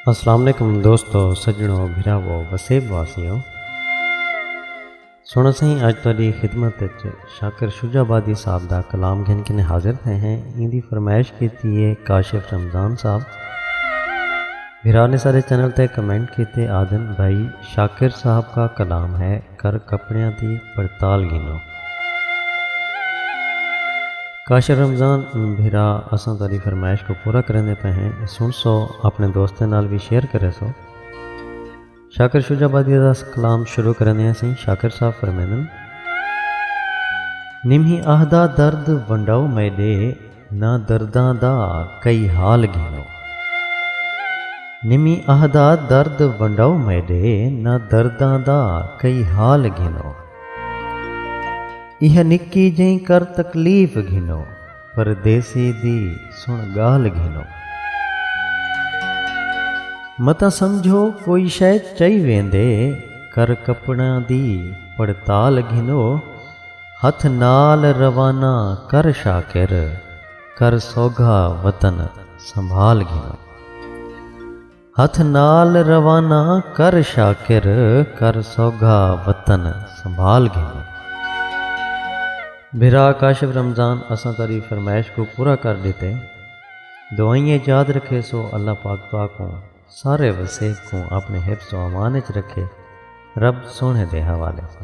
السلام علیکم دوستو سجنو بھراو وسیب واسیو سونا سائیں اج تہاڈی خدمت وچ شاکر شجاع آبادی صاحب دا کلام گھن کے حاضر تھے ہیں این دی فرمائش کیتی ہے کاشف رمضان صاحب بھرا نے سارے چینل تے کمنٹ کیتے آدن بھائی شاکر صاحب کا کلام ہے کر کپڑیاں دی پڑتال گھنو۔ کاشر رمضان بھرا اساں تہاڈی فرمائش کوں پورا کریندے پئے ہیں سنڑسو اپنڑے دوستیں نال وی شیئر کریسو۔ شاکر شجاع آبادی دا کلام شروع کریندے ہیں سئیں شاکر صاحب فرمیندن۔ نمہی آہدا درد ونڈاؤ میڈے۔ نہ درداں دا کئی حال گھنو۔ نمی اہدا درد ونڈاؤ میڈے نہ درداں دا کئی حال گھنو۔ ایہا نکی جئیں کر تکلیف گھنو پردیسی دی سن گال گھنو۔ متاں سمجھو کوئی شئے چئی ویندے کر کپڑاں دی پڑتال گھنو۔ ہتھ نال روانہ کر شاکر کر سوگھا وطن سنبھال گھنوں۔ ہتھ نال روانہ کر شاکر کر سوگھا وطن سنبھال گھنوں۔ بھرا کاشف رمضان اساں تہاڈی فرمائش کوں پورا کر ڈتے دعائیں اچ یاد رکھیسو اللہ پاک تہاکوں۔ سارے وسیب کوں اپݨے حفظ و امان اچ رکھے، رب سوہݨے دے حوالے سن۔